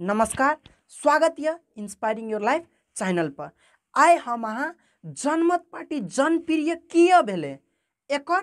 नमस्कार स्वागत यऽ इंस्पायरिंग योर लाइफ चैनल पर आइ हम अहाँ जनमत पार्टी जनप्रिय किए भेलै एकर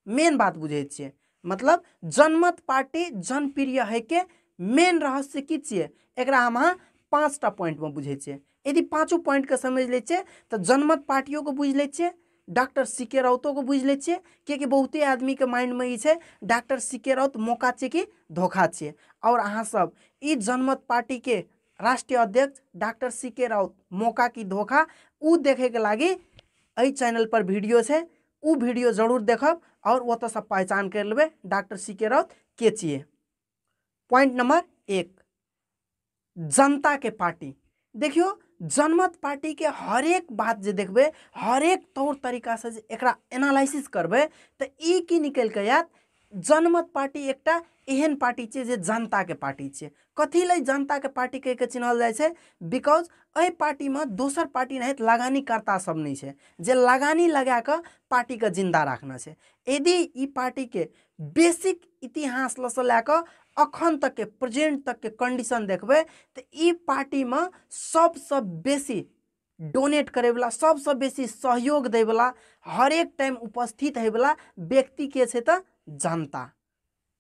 मेन बात बुझै छियै मतलब जनमत पार्टी जनप्रिय होइके मेन रहस्य की छियै एकरा हम अहाँ पाँचटा पॉइंटमे बुझै छियै यदि पाँचो पॉइंटके समझि लै छियै तऽ जनमत पार्टियोके बुझि लै छियै डॉक्टर सी के राउतोके बुझि लै छियै किएकि बहुते आदमीके माइंडमे ई छै डॉक्टर सी के राउत मौका छियै कि धोखा छियै आओर अहाँसभ ई जनमत पार्टीके राष्ट्रीय अध्यक्ष डॉक्टर सी के राउत मौका की धोखा ओ देखैके लागि एहि चैनलपर वीडियो छै ओ वीडियो जरूर देखब आओर ओतयसँ पहचान करि लेबै डॉक्टर सी के राउत के छियै पॉइंट नंबर एक जनता के पार्टी देखियो जनमत पार्टी के हर एक बात जो देखबे हर एक तौर तरीका से एक एनालिसिस करबे तो ई की निकल के आयत जनमत पार्टी एक एहन पार्टी छे जे जनता के पार्टी छे कथी ले जनता के पार्टी कह के चिन्हल जाए छे बिकॉज अ पार्टी में दोसर पार्टी नहीं लगानी करता सब नहीं छे जे लगानी लगा के पार्टी के जिंदा रखना छे यदि ई पार्टी के बेसिक इतिहास लसँ लए कऽ अखन तकके प्रेजेंट तकके कंडीशन देखबै तऽ ई पार्टीमे सभसँ बेसी डोनेट करैवला सभसँ बेसी सहयोग दैवला हरेक टाइम उपस्थित होइवला व्यक्ति के छै तऽ जनता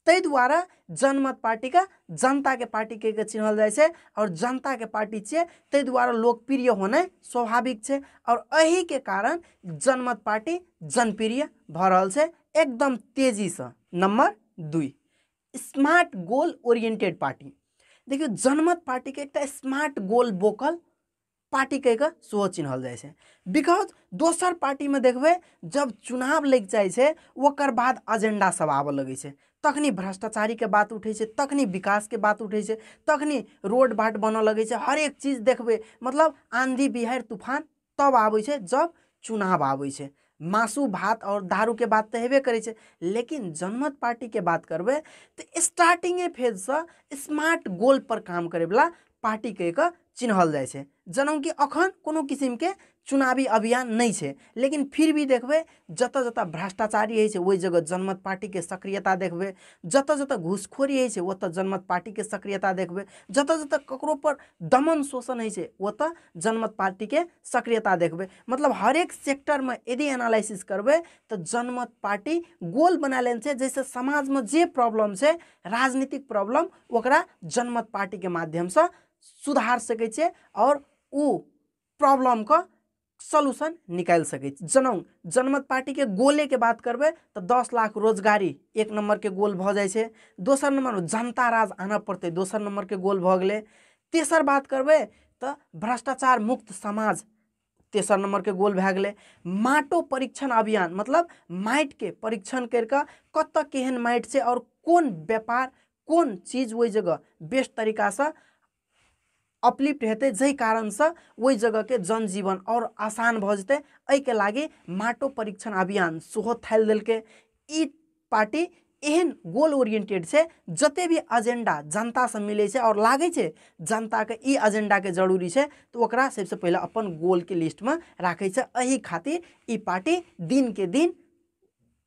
ताहि दुआरे जनमत पार्टीके जनताके पार्टी कहि कऽ चिन्हल जाइ छै आओर जनताके पार्टी छियै ताहि दुआरे लोकप्रिय होनाइ स्वाभाविक छै आओर एहिके कारण जनमत पार्टी जनप्रिय भऽ रहल छै एकदम तेजीसँ नम्बर दुई स्मार्ट गोल ओरिएंटेड पार्टी देखियौ जनमत पार्टीके एकटा स्मार्ट गोल बोकल पार्टी कहि कऽ सेहो चिन्हल जाइ छै बिकॉज दोसर पार्टीमे देखबै जब चुनाव लागि जाइ छै ओकर बाद एजेंडा सब आबऽ लगै छै तखनी भ्रष्टाचारीके बात उठै छै तखनी विकासके बात उठै छै तखनी रोड बाट बनऽ लगै छै हरेक चीज देखबै मतलब आँधी बिहारि तूफान तब आबै छै जब चुनाव आबै छै मासु भात आओर दारूके बात तऽ हेबे करै छै लेकिन जनमत पार्टीके बात करबै तऽ स्टार्टिंगे फेजसँ स्मार्ट गोलपर काम करैवला पार्टी कहि कऽ चिन्हल जाइ छै जेनाकि अखन कोनो किसिमके चुनावी अभियान नहि छै लेकिन फिर भी देखबै जतऽ जतऽ भ्रष्टाचारी होइ छै ओहि जगह जनमत पार्टीके सक्रियता देखबै जतऽ जतऽ घूसखोरी होइ छै ओतऽ जनमत पार्टीके सक्रियता देखबै जतऽ जतऽ ककरो पर दमन शोषण होइ छै ओतऽ जनमत पार्टीके सक्रियता देखबै मतलब हरेक सेक्टरमे यदि एनालिसिस करबै तऽ जनमत पार्टी गोल बना लेने छै जाहिसँ समाजमे जे प्रॉब्लम छै राजनीतिक प्रॉब्लम ओकरा जनमत पार्टीके माध्यमसँ सुधार सकै छै आओर ओ प्रॉब्लमके सोल्यूशन निकालि सकै छी जेना जनमत पार्टीके गोलेके बात करबै तऽ दस लाख रोजगारी एक नम्बरके गोल भऽ जाइ छै दोसर नम्बर जनता राज आनऽ पड़तै दोसर नम्बरके गोल भऽ गेलै तेसर बात करबै तऽ भ्रष्टाचार मुक्त समाज तेसर नम्बरके गोल भए गेलै माटो परीक्षण अभियान मतलब माटिके परीक्षण करि कऽ कतऽ केहन माटि छै आओर कोन व्यापार कोन चीज ओहि जगह बेस्ट तरीकासँ अपलिफ्ट हेतै जाहि कारणसँ ओहि जगहके जनजीवन आओर आसान भऽ जेतै एहिके लागि माटो परीक्षण अभियान सेहो थालि देलकै ई पार्टी एहन गोल ओरिएंटेड छै जते भी एजेंडा जनतासँ मिलै छै आओर लागै छै जनताके ई एजेंडाके जरूरी छै तऽ ओकरा सबसँ पहिले अपन गोलके लिस्टमे राखै छै एहि खातिर ई पार्टी दिनके दिन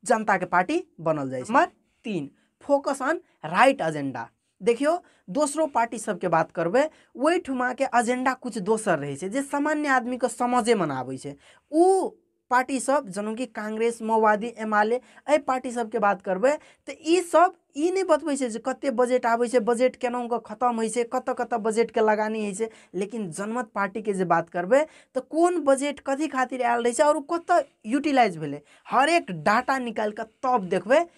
जनताके पार्टी बनल जाइ छै नंबर तीन फोकस ऑन राइट एजेंडा देखियौ दोसरो पार्टी सबके बात करबै ओहिठुमाके एजेंडा किछु दोसर रहै छै जे सामान्य आदमीके समझेमे नहि आबै छै ओ पार्टी सब जेना कि कांग्रेस माओवादी एम आल एहि पार्टी सबके बात करबै तऽ ई सब ई नहि बतबै छै जे कते बजट आबै छै बजट केना कऽ खतम होइ छै कतऽ कतऽ बजटके लगानी होइ छै लेकिन जनमत पार्टीके जे बात करबै तऽ कोन बजट कथी खातिर आयल रहै छै आओर ओ कतऽ यूटिलाइज भेलै हरेक डाटा निकालि कऽ तब देखबै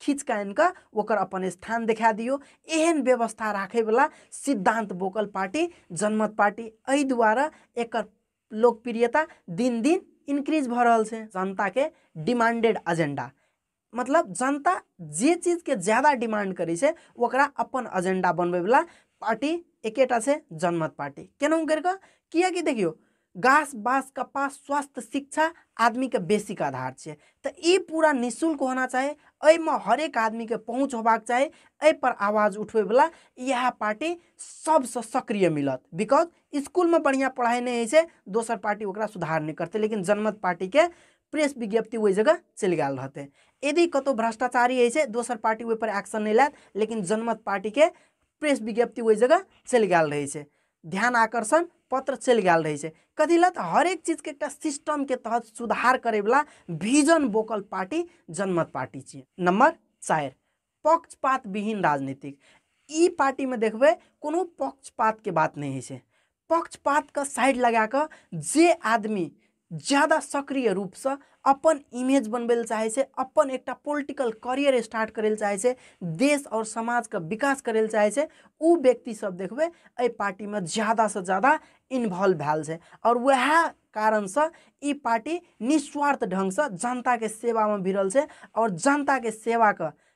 खींच कऽ आनि कऽ ओकर अपन स्थान देखा दियौ एहन व्यवस्था राखयवला सिद्धांत बोकल पार्टी जनमत पार्टी एहि दुआरे एकर लोकप्रियता दिन दिन इंक्रीज भऽ रहल छै जनताके डिमांडेड एजेंडा मतलब जनता जे चीजके ज्यादा डिमांड करै छै ओकरा अपन एजेंडा बनबैवला पार्टी एकेटा छै जनमत पार्टी केनाहु करि कऽ किएकि देखियौ गास बास कपास स्वास्थ्य शिक्षा आदमी के बेसिक आधार छै तऽ ई पूरा निःशुल्क होना चाही एहिमे हरेक आदमी के पहुँच होबाक चाही एहि पर आवाज उठबै वाला इएह पार्टी सबसँ सक्रिय मिलत बिकॉज स्कूल में बढ़िया पढ़ाई नहीं होइ छै दोसर पार्टी ओकरा सुधार नहीं करते लेकिन जनमत पार्टी के प्रेस विज्ञप्ति ओहि जगह चलि गेल रहतै यदि कतौ भ्रष्टाचारी होइ छै दोसर पार्टी ओहि पर एक्शन नहि लेत लेकिन जनमत पार्टी के प्रेस विज्ञप्ति ओहि जगह चलि गेल रहै छै ध्यान आकर्षण पत्र चलि गेल रहै छै कथी लए तऽ हरेक चीजके एकटा सिस्टमके तहत सुधार करैवला vision vocal party Janmat party छियै नम्बर चारि पक्षपात विहीन राजनीतिक ई पार्टीमे देखबै कोनो पक्षपातके बात नहि होइ छै पक्षपातके साइड लगा कऽ जे आदमी ज्यादा सक्रिय रूपसँ अपन इमेज बनबै लए चाहै छै अपन एकटा पोलिटिकल करियर स्टार्ट करै लए चाहै छै देश आओर समाजके विकास करै लए चाहै छै ओ व्यक्ति सब देखबै एहि पार्टीमे ज्यादासँ ज्यादा इन्वॉल्व भेल छै आओर वएह कारणसँ ई पार्टी निस्वार्थ ढङ्गसँ जनताके सेवामे भिड़ल छै आओर जनताके सेवाके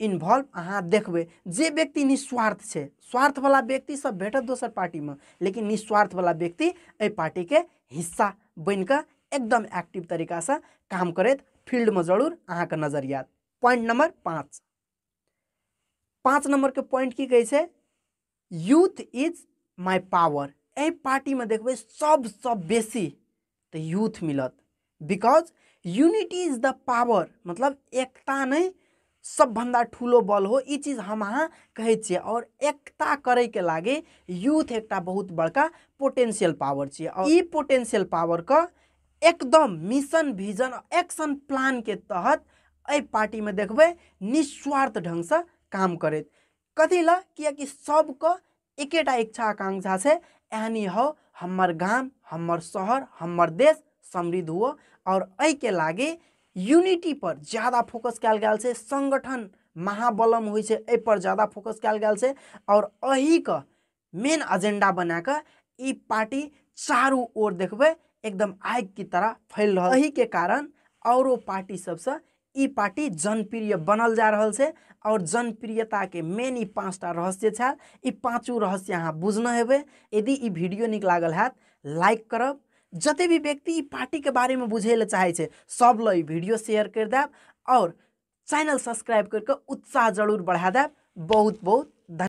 इन्वॉल्व अहाँ देखबै जे व्यक्ति निस्वार्थ छै स्वार्थवला व्यक्तिसभ भेटत दोसर पार्टीमे लेकिन निस्वार्थवला व्यक्ति एहि पार्टीके हिस्सा बनि कऽ एकदम एक्टिव तरीकासँ काम करैत फील्डमे जरूर अहाँके नजर आयत पॉइंट नंबर पाँच पाँच नंबरके पॉइंट की कहै छै यूथ इज माय पावर एहि पार्टीमे देखबै सबसँ बेसी तऽ यूथ मिलत because unity is the power मतलब एकता नहि सबभन्दा ठुलो बल हो ई चीज हम अहाँ कहै छियै आओर एकता करैके लागि यूथ एकटा बहुत बड़का पोटेंशियल पावर छियै आओर ई पोटेंशियल पावरके एकदम मिशन भिजन एक्शन प्लानके तहत एहि पार्टीमे देखबै निस्वार्थ ढङ्गसँ काम करैत कथी लए किएकि सबके एकेटा इच्छा आकांक्षा छै एहनी हो हमर गाम हमर शहर हमर देश समृद्ध हुअ आओर एहिके लागी यूनिटी पर ज्यादा फोकस कयल गेल छै संगठन महाबलम होइ छै एहि पर ज्यादा फोकस कयल गेल छै आओर एहिके मेन अजेंडा बना कऽ ई पार्टी चारू ओर देखबै एकदम आगि की तरह फैल रहल एहि के कारण औरो पार्टी सबसँ ई पार्टी जनप्रिय बनल जा रहल छै और जनप्रियता के मेन ई पाँचटा रहस्य छल ई पाँचू रहस्य अहाँ बुझने हेबै यदि ई वीडियो नीक लागल हैत लाइक करब जते भी व्यक्ति ई पार्टी के बारे में बुझे ले चाहे छै सब लए ई वीडियो शेयर कर देब और चैनल सब्सक्राइब करके उत्साह जरूर बढ़ा देब बहुत बहुत धन्यवाद